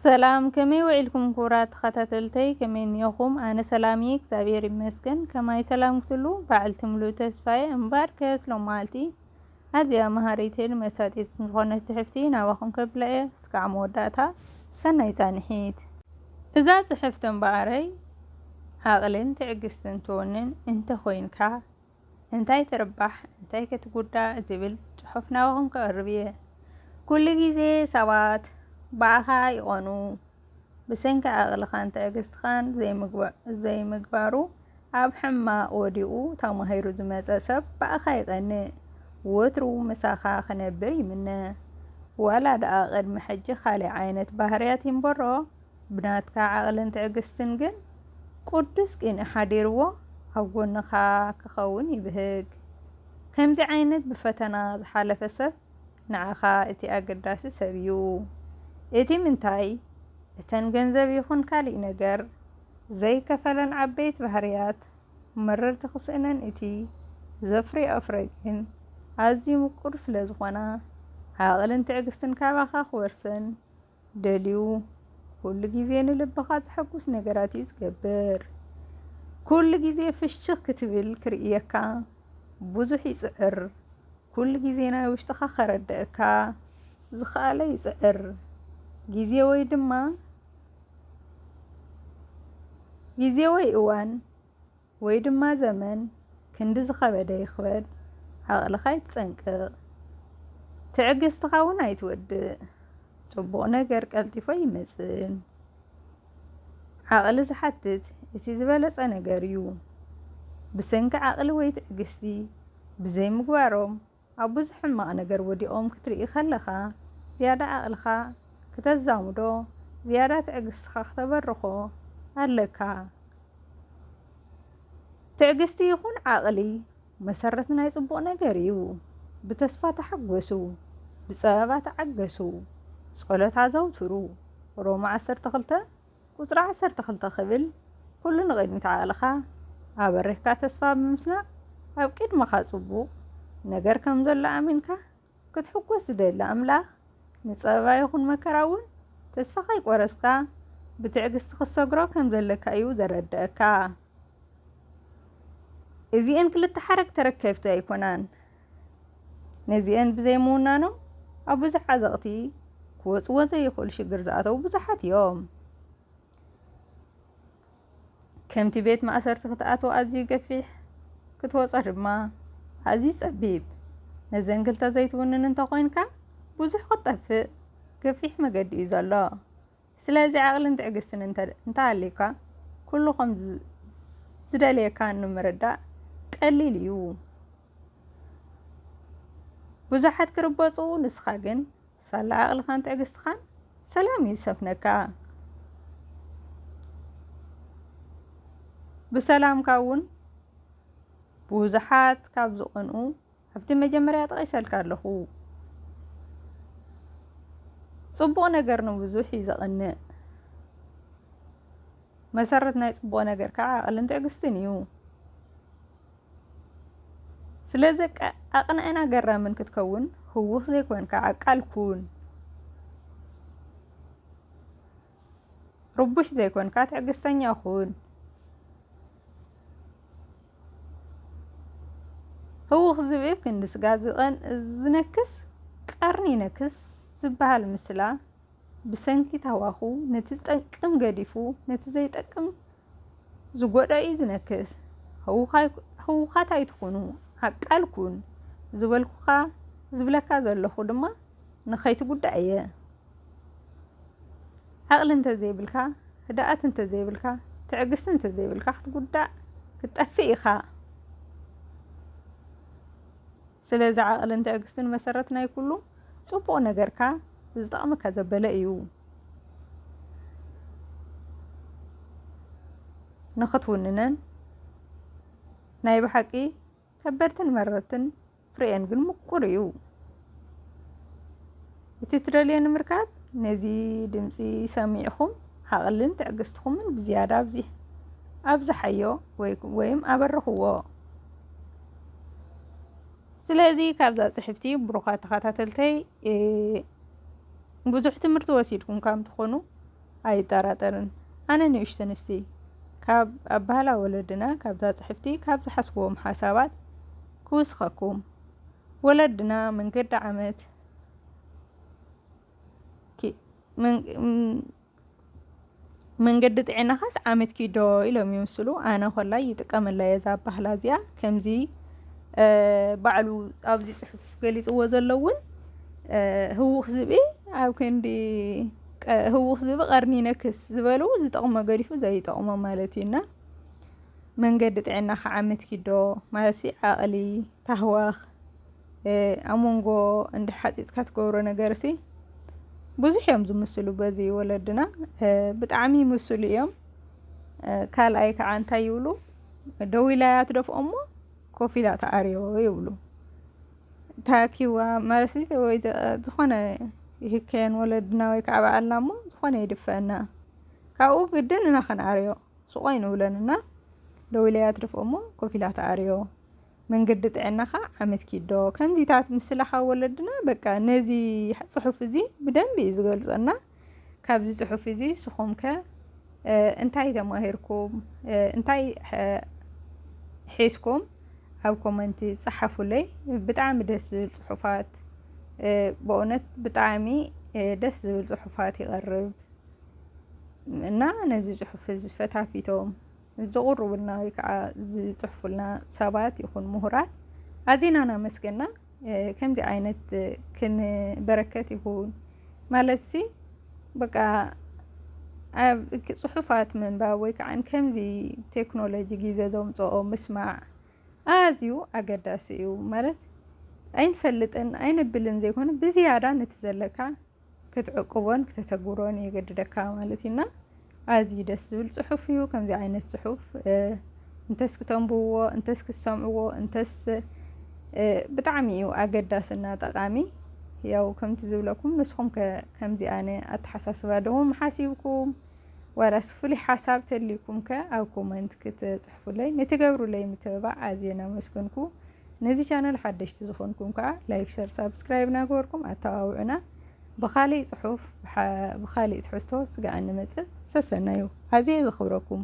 ሰላም ከመይ ውዒልኩም ክቡራት ተኸታተልተይ ከመይ እኒኦኹም ኣነ ሰላም እየ እግዚኣብሔር ይመስገን ከማይ ሰላም ክትሉ በዓልቲ ሙሉ ተስፋየ እምባር ከስሎም መዓልቲ ኣዝያ መሃሪትን መሳጢት ዝኾነት ጽሕፍቲ ናባኹም ከብላ እየ እስካዕ መወዳእታ ሰናይ ጻንሒት እዛ ጽሕፍቲ እምበኣረይ ዓቕልን ትዕግስትን ትወንን እንተኾይንካ እንታይ ትርባሕ እንታይ ክትጉዳእ ዝብል ጽሑፍ ናባኹም ከቕርብ እየ። ኩሉ ግዜ ሰባት ብኣኻ ይቐኑ። ብሰንኪ ዓቕልኻን ትዕግስትኻን ዘይምግባሩ ኣብ ሕማቕ ወዲቑ ተማሂሩ ዝመጸ ሰብ ብኣኻ ይቐንእ። ወትሩ ምሳኻ ክነብር ይምነ። ዋላ ደኣ ቅድሚ ሕጂ ካልእ ዓይነት ባህርያት ይንበሮ። ብናትካ ዓቕልን ትዕግስትን ግን ቁዱስ ቂንኢ ሓዲርዎ ኣብ ጎንኻ ክኸውን ይብህግ። ከምዚ ዓይነት ብፈተና ዝሓለፈ ሰብ ንዓኻ እቲ ኣገዳሲ ሰብ እዩ። እቲ ምንታይ እተን ገንዘብ ይኹን ካሊእ ነገር ዘይከፈለን ዓበይቲ ባህርያት መረርቲ ክስእነን እቲ ዘፍርየኦ ፍረ ግን ኣዝዩ ምቁር ስለዝኾና ዓቕልን ትዕግስትን ካባኻ ክወርሰን ደልዩ ኩሉ ግዜ ንልብኻ ዘሐጉስ ነገራት እዩ ዝገብር ኩሉ ግዜ ፍሽኽ ክትብል ክርእየካ ብዙሕ ይጽዕር ኩሉ ግዜ ናይ ውሽጥኻ ከረድእካ ዝኸኣለ ይጽዕር ግዜ ወይ ድማ ግዜ ወይ እዋን ወይ ድማ ዘመን ክንዲ ዝኸበደ ይኽበድ ዓቕልኻ ይትጸንቅቕ ትዕግስትኻ እውን ኣይትወድእ ጽቡቕ ነገር ቀልጢፎ ኣይመጽእን ዓቕሊ ዝሓትት እቲ ዝበለጸ ነገር እዩ ብሰንኪ ዓቕሊ ወይ ትዕግስቲ ብዘይምግባሮም ኣብ ብዙሕ ሕማቕ ነገር ወዲቖም ክትርኢ ከለኻ፣ ዝያዳ ዓቕልኻ ክተዛምዶ፣ ዝያዳ ትዕግስትኻ ክተበርኾ ኣለካ። ትዕግስቲ ይኹን ዓቕሊ መሰረት ናይ ጽቡቕ ነገር እዩ። ብተስፋ ተሓጎሱ፣ ብጸበባ ተዓገሱ፣ ጸሎት ኣዘውትሩ፣ ሮማ ዓሰርተ ክልተ ቁጽሪ ዓሰርተ ክልተ ክብል ኩሉ ንቕድሚት ዓቕልኻ ኣበሪኽካ ተስፋ ብምስናቕ ኣብ ቅድመኻ ጽቡቕ ነገር ከም ዘሎ ኣሚንካ ክትሕጎስ ዝደሊ ኣምላኽ ንጸበባ ይኹን መከራ እውን ተስፋ ከይቆረጽካ ብትዕግስቲ ክትሰግሮ ከም ዘለካ እዩ ዘረድኣካ። እዚኤን ክልተ ሓረግ ተረከብቲ ኣይኮናን። ነዚኤን ብዘይምውናኖም ኣብ ብዙሕ ዓዘቕቲ ክወፅዎ ዘይኽእሉ ሽግር ዝኣተዉ ብዙሓት እዮም። ከምቲ ቤት ማእሰርቲ ክትኣትዎ ኣዝዩ ገፊሕ፣ ክትወፆ ድማ ኣዝዩ ፀቢብ። ነዘን ክልተ ዘይትውንን እንተኾይንካ ብዙሕ ክትጠፍእ ገፊሕ መገዲ እዩ ዘሎ። ስለዚ ዓቕልን ትዕግስትን እንተ እንተሃልዩካ ኩሉ ከም ዝ- ዝደልየካ ንምርዳእ ቀሊል እዩ። ብዙሓት ክርበጹ ንስኻ ግን ሳላ ዓቕልኻን ትዕግስትኻን ሰላም እዩ ዝሰፍነካ። ብሰላምካ እውን ብዙሓት ካብ ዝቐንኡ ኣብቲ መጀመርያ ጠቒሰልካ ኣለኹ ጽቡቕ ነገር ንብዙሕ እዩ ዘቕንእ መሰረት ናይ ጽቡቕ ነገር ከዓ ዓቕልን ትዕግስትን እዩ ስለዚ ኣቕንዕን ኣገራምን ክትከውን ህውኽ ዘይኮንካ ዓቃል ኩን ርቡሽ ዘይኮንካ ትዕግስተኛ ኩን። ህውኽ ዝብኢ ክንዲ ስጋ ዝነክስ ቀርኒ ይነክስ ዝበሃል ምስላ ብሰንኪ ታዋኹ ነቲ ዝጠቅም ገዲፉ ነቲ ዘይጠቅም ዝጎድኦ እዩ ዝነክስ። ህውኻት ኣይትኹኑ ዓቃል ኩን ዝበልኩኻ ዝብለካ ዘለኹ ድማ ንኸይትጉዳእ እየ። ዓቕሊ እንተዘይብልካ፣ ህድኣት እንተዘይብልካ፣ ትዕግስቲ እንተዘይብልካ ክትጉዳእ ክትጠፍእ ኢኻ። ስለዚ ዓቕልን ትዕግስትን መሰረት ናይ ኩሉ ጽቡቕ ነገርካ ዝጠቕመካ ዘበለ እዩ። ንኽትውንነን ናይ ብሓቂ ከበድትን መረርትን ፍሬኤን ግን ምቁር እዩ እቲ ትደልዮ ንምርካብ ነዚ ድምፂ ሰሚዕኹም ዓቕልን ትዕግስትኹምን ብዝያዳ ኣብዚ ኣብዝሓዮ ወይም ኣበርኽዎ ስለዚ ካብዛ ፅሕፍቲ ብሩኻት ተኸታተልተይ ብዙሕ ትምህርቲ ወሲድኩም ከም ትኾኑ ኣይጠራጠርን ኣነ ንእሽቶ ንስቲ ካብ ኣባህላ ወለድና ካብዛ ጽሕፍቲ ካብ ዝሓስብዎም ሓሳባት ክውስኸኩም ወለድና መንገዲ ዓመት መንገዲ ጥዕናኻስ ዓመት ኪዶ ኢሎም ይምስሉ ኣነ ኮላይ ይጥቀመላ እየ እዛ ባህላ እዚኣ ከምዚ ባዕሉ ኣብዚ ፅሑፍ ገሊፅዎ ዘሎ እውን ህውኽ ዝብኢ ኣብ ክንዲ ህውኽ ዝብ ቐርኒ ይነክስ ዝበሉ ዝጠቕሞ ገዲፉ ዘይጠቕሞ ማለት እዩ እና መንገዲ ጥዕና ክዓምት ኪዶ ማለት ሲ ዓቕሊ ታህዋኽ ኣብ መንጎ እንዲ ሓፂፅካ ትገብሮ ነገር ሲ ብዙሕ እዮም ዝምስሉ በዚ ወለድና ብጣዕሚ ይምስሉ እዮም ካልኣይ ከዓ እንታይ ይብሉ ደው ኢላ እያ ትደፍኦ እሞ ኮፍ ኢላ ትኣርዮ ይብሉ ታኪዋ ማለት ወይ ዝኾነ ይህከየን ወለድና ወይ ከዓ በዓልና እሞ ዝኾነ ይድፈአና ካብኡ ግድን እና ከነኣርዮ ስቖይ ንብለን እና ደው ኢለያ ትድፍኦ እሞ ኮፍ ኢላ ተኣርዮ መንገዲ ጥዕናኻ ዓመት ኪዶ ከምዚታት ምስላ ካብ ወለድና በቃ ነዚ ፅሑፍ እዚ ብደንቢ እዩ ዝገልፀና ካብዚ ፅሑፍ እዚ ስኹም ከ እንታይ ተማሂርኩም እንታይ ሒዝኩም ኣብ ኮመንቲ ፀሓፉለይ ብጣዕሚ ደስ ዝብል ፅሑፋት በእውነት ብጣዕሚ ደስ ዝብል ፅሑፋት ይቐርብ እና ነዚ ፅሑፍ እዚ ፈታፊቶም ዝቕርቡልና ወይ ከዓ ዝፅሕፉልና ሰባት ይኹን ምሁራት ኣዚና እናመስገና ከምዚ ዓይነት ክንበረከት ይኹን ማለት ሲ በቃ ፅሑፋት ምንባብ ወይ ከዓ ከምዚ ቴክኖሎጂ ግዜ ዘምፅኦ ምስማዕ ኣዝዩ ኣገዳሲ እዩ ማለት ኣይንፈልጥን ኣይነብልን ዘይኮነ ብዝያዳ ነቲ ዘለካ ክትዕቅቦን ክተተግብሮን የገድደካ ማለት እዩ እና ኣዝዩ ደስ ዝብል ፅሑፍ እዩ። ከምዚ ዓይነት ፅሑፍ እንተስ ክተንብብዎ እንተስ ክሰምዕዎ እንተስ ብጣዕሚ እዩ ኣገዳስና ጠቃሚ ያው ከምቲ ዝብለኩም ንስኹም ከምዚ ኣነ ኣተሓሳስባ ደኹም ሓሲብኩም ዋላስ ፍሉይ ሓሳብ ተልይኩም ከ ኣብ ኮመንት ክትፅሕፉለይ ንትገብሩለይ ምትብባዕ ኣዝየ ናመስገንኩ ነዚ ቻነል ሓደሽቲ ዝኾንኩም ከዓ ላይክ ሸር ሳብስክራይብ ናገበርኩም ኣተባብዑና ብኻሊእ ፅሑፍ ብኻሊእ ትሕዝቶ ስጋዕ እንመፅእ ሰሰናዩ ኣዝየ ዘኽብረኩም